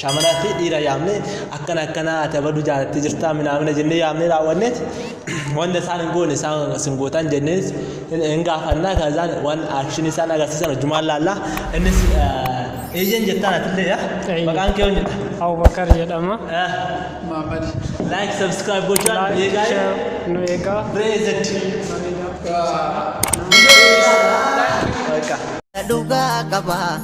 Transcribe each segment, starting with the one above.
shamaraa fi dhiira yaamne akkana akkana ati abaduu jaalattee jirtaa minaamina jennee yaamne raawwanneet wanta isaan hin goone isaan isin gootaan jennee hin gaafannaa kan isaan waan aakshinii isaan agarsiisan hojjumaan laallaa innis eeyyen jettaan atillee yaa Eeyyen. maqaan kee yoon jedha Abubakar jedhama. Muhammad. like subscribe gochuudhaan Like, eegaa share, nu eegaa. reezet Bareedaa. Bareedaa. dhugaa qaba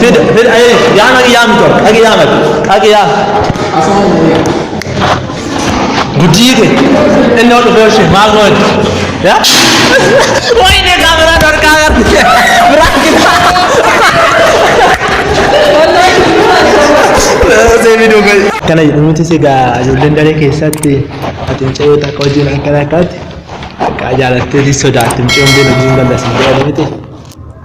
Fida, fida, ayy, yaa maqi yaa mito, qaqi yaa maqi, qaqi yaa. Guddii kee, inni hodhu fee hoshee, maal moo itti? Yaa? Wayne kaameraa dorkaa gatti. Biraa gitaa. Kana jedhamutti sigaa ijoolleen daree keessatti ati mucayyoo takka wajjin akkana akkaatti akka jaalatteetis sodaatti mucayyoon beela jiin bal'asin jedhamee ta'e.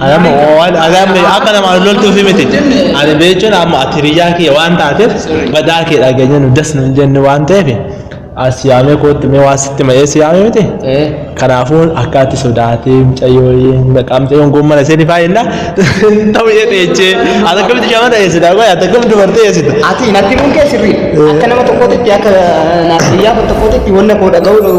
Adama waan adamni akka nama loltuu fi miti. Ani beechuun amma ati biyyaa kiyya waan taateef badaa kee dhageenya nu das nun jennu waan ta'eef as yaamee kootti mee waan sitti ma'ee si yaamee miti. Kanaafuu akka ati sodaatee mucayyoo naqamtee hongoon mana ishee ni faayinna ta'u ishee dheechee ati akkamitti shamarra eessita qoy ati akkamitti dubartee eessita. Ati natti kun kee sirrii akka nama tokkootitti akka naaf biyyaa tokkootitti wanna koo dhaga'uu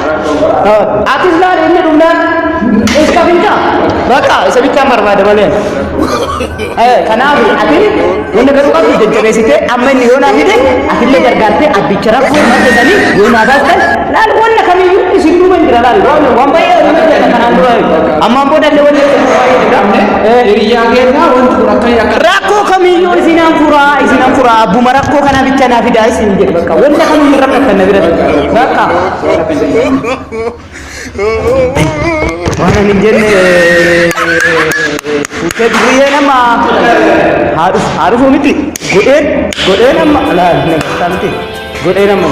Atis laal inni dhumnaan iska finca. Bakka isa bichaan barbaada malee. Kanaaf ati wanna garuu qabdu jajjabeessitee amma inni yoo naa fide atillee gargaartee abbicha rakkoo naa jedhanii yoo naa baastan laal wanna kamiyyuu isin duuba hin jira laal waan waan baay'ee waan jira kanaan dura ammaan booda illee wanna Hiriyaa keenyaa wanti kun akka yakka rakkoo kamiyyuu isin an furaa isin an furaa abbuma rakkoo kana bicha naa fidaa isin jedhe bakka wanna kamiyyuu rakkatan na bira bakka Soora kan jedhamu. Waan ani hin jenne fuutee dubriyee nama haadhuf haadhufuu miti godheen godhee nama laal namartaa miti godhee nama